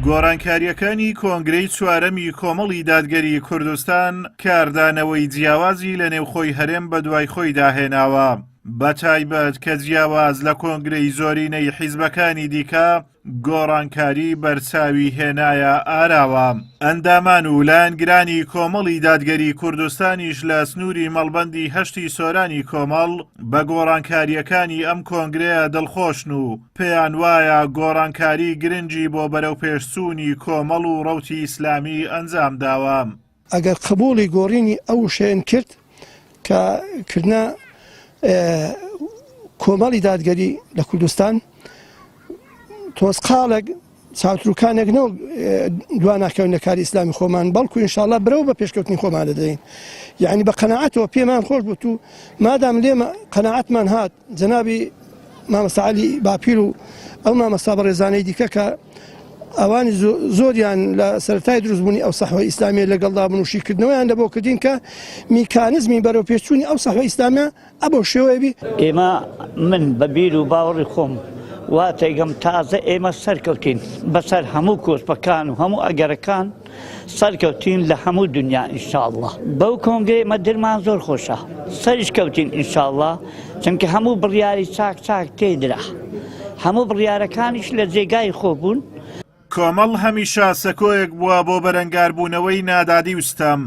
گۆڕانکارییەکانی کۆنگرەی چوارەمی کۆمەڵی دادگەری کوردستان کاردانەوەی جیاوازی لە نێوخۆی هەرێم بە دوای خۆی داهێناوە بە تایبەت کە جیاواز لە کۆنگرەی زۆرینەی حیزبەکانی دیکە گۆڕانکاری بەرچاوی هێنایە ئاراوە ئەندامان و لایەنگرانی کۆمەڵی دادگەری کوردستانیش لە سنووری مەڵبەندی هەشتی سۆرانی کۆمەڵ بە گۆڕانکارییەکانی ئەم کۆنگرەیە دڵخۆشن و پێیانوایە گۆڕانکاری گرنگی بۆ بەرەوپێشچوونی کۆمەڵ و ڕەوتی ئیسلامی ئەنجامداوە. ئەگەر قبووڵی گۆڕینی ئەو وشەیەن کرد کە کردنە کۆمەڵی دادگەری لە کوردستان، تۆزقاڵێک چاوتروکانێک نەوە دوا ناکەون لە کاری ئیسلامی خۆمان بەڵکو انشاءله برەو بە پێشکەوتنی خۆمان دەدەین یعنی بە قەنەعاتەوە پێمان خۆش بوو و مادام لێ قەنەعاتمان هات جەنابی مامەساعلی باپیر و ئەو مامەستا بە ڕێزانەی دیکە کە ئەوانی زۆریان لە سەرای دروستبوونی ئەو سەحوە ئیسلامی لەگەڵدا بنوشیکردنەوەیان لە بۆ کردین کە میکانزمی بەرەوپێچوونی ئەو سەحوە ئیسلامە ئە بەو شێوەیە بی. ئێمە من بە بیر و باوەڕی خۆم وا تێگەم تازە ئێمە سەرکەوتین بەسەر هەموو کۆسپەکان و هەموو ئەگەرەکان سەرکەوتین لە هەموو دنیا ئینشاءله بەو کۆنگێ مە درمان زۆر خۆشە سەریش کەوتین ئینشاءله چونکە هەموو بڕیاری چاک چاک تێدرا هەموو بڕیارەکانیش لە جێگای خۆ بوون کۆمەڵ هەمیشە سەکۆیەک بووە بۆ بەرەنگاربوونەوەی نادادی و ستەم،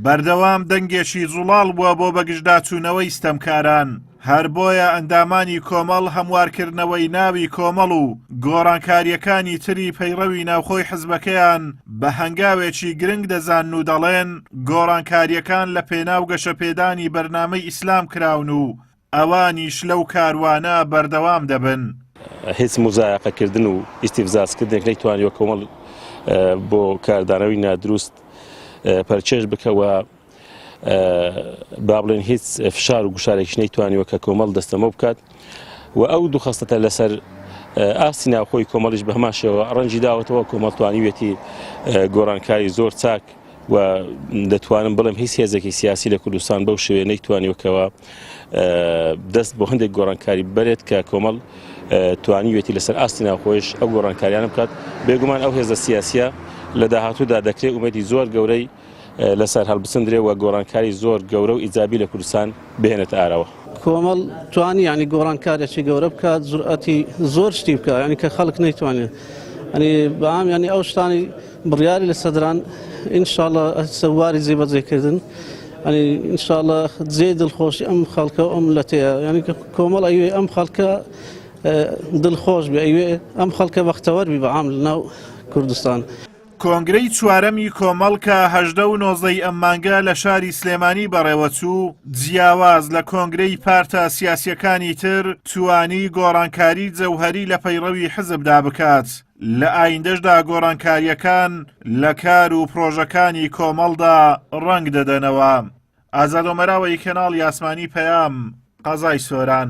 بەردەوام دەنگێکی زوڵاڵ بووە بۆ بەگژداچوونەوەی ستەمکاران، هەر بۆیە ئەندامانی کۆمەڵ هەموارکردنەوەی ناوی کۆمەڵ و گۆڕانکارییەکانی تری پەیڕەوی ناوخۆی حزبەکەیان بە هەنگاوێکی گرنگ دەزانن و دەڵێن گۆڕانکارییەکان لەپێناو گەشەپێدانی بەرنامەی ئیسلام کراون و ئەوانیش لەو کاروانە بەردەوام دەبن. هیچ موزایەقە کردن و ئیستیفزاز کردنێک نەیتوانیوە کۆمەڵ بۆ کاردانەوەی نادروست پەرچێژ بکە و بابلێن هیچ فشار و گوشارێکش نەیتوانیوە کە کۆمەڵ دەستەمە بکات و ئەو دوو خستەتە لەسەر ئاستی ناوخۆی کۆمەڵیش بەهماشەوە ڕەنجی داوەتەوە کۆمەڵتوانیوێتی گۆڕانکاری زۆر چاک و دەتوانم بڵێم هیچ هێزێکی سیاسی لە کوردستان بەو شوێ نەیتوانیوەکەوە دەست بۆ هەندێک گۆڕانکاری بەرێت کە کۆمەڵ توانیوێتی لەسەر ئاستی ناوخۆش ئەو گۆڕانکاریانە بکات بێگومان ئەو هێزە سیاسە لە داهاتوودا دەکرێت ومەدی زۆر گەورەی لەسەر هەڵبسندرێ و گۆڕانکاری زۆر گەورە و ئیجابی لە کوردستان بهێنێتە ئاراوە. کۆمەڵ توانی یانی گۆڕان کارێکی گەورە بکات جورئەتی زۆر شتی بکە ینی کە خەڵک نەیتوانێت ئەنی بەام ینی ئەو شتانی بڕیاری لە سەدران ئینشاالله سەواری جێبەجێکردن ئەنی ئینشاالله جێ دڵخۆشی ئەم خەڵکە و ئەم لەتەیە ینی کۆمەڵ ئەوێ ئەم خەڵکە دڵخۆش بێ ئەوێ ئەم خەڵکە بەختەوەربی بەعام لە ناو کوردستان. کۆنگرەی چوارەمی کۆمەڵ کە هەژدە و نۆزدەی ئەم مانگە لە شاری سلێمانی بەڕێوەچوو، جیاواز لە کۆنگرەی پارتە سیاسییەکانی تر، توانی گۆڕانکاری جەوهەری لە پەیڕەوی حزبدا بکات، لە ئایندەشدا گۆڕانکارییەکان لە کار و پرۆژەکانی کۆمەڵدا ڕەنگ دەدەنەوە. ئازاد ئۆمەراوەی کەناڵی ئاسمانی پەیام، قەزای سۆران.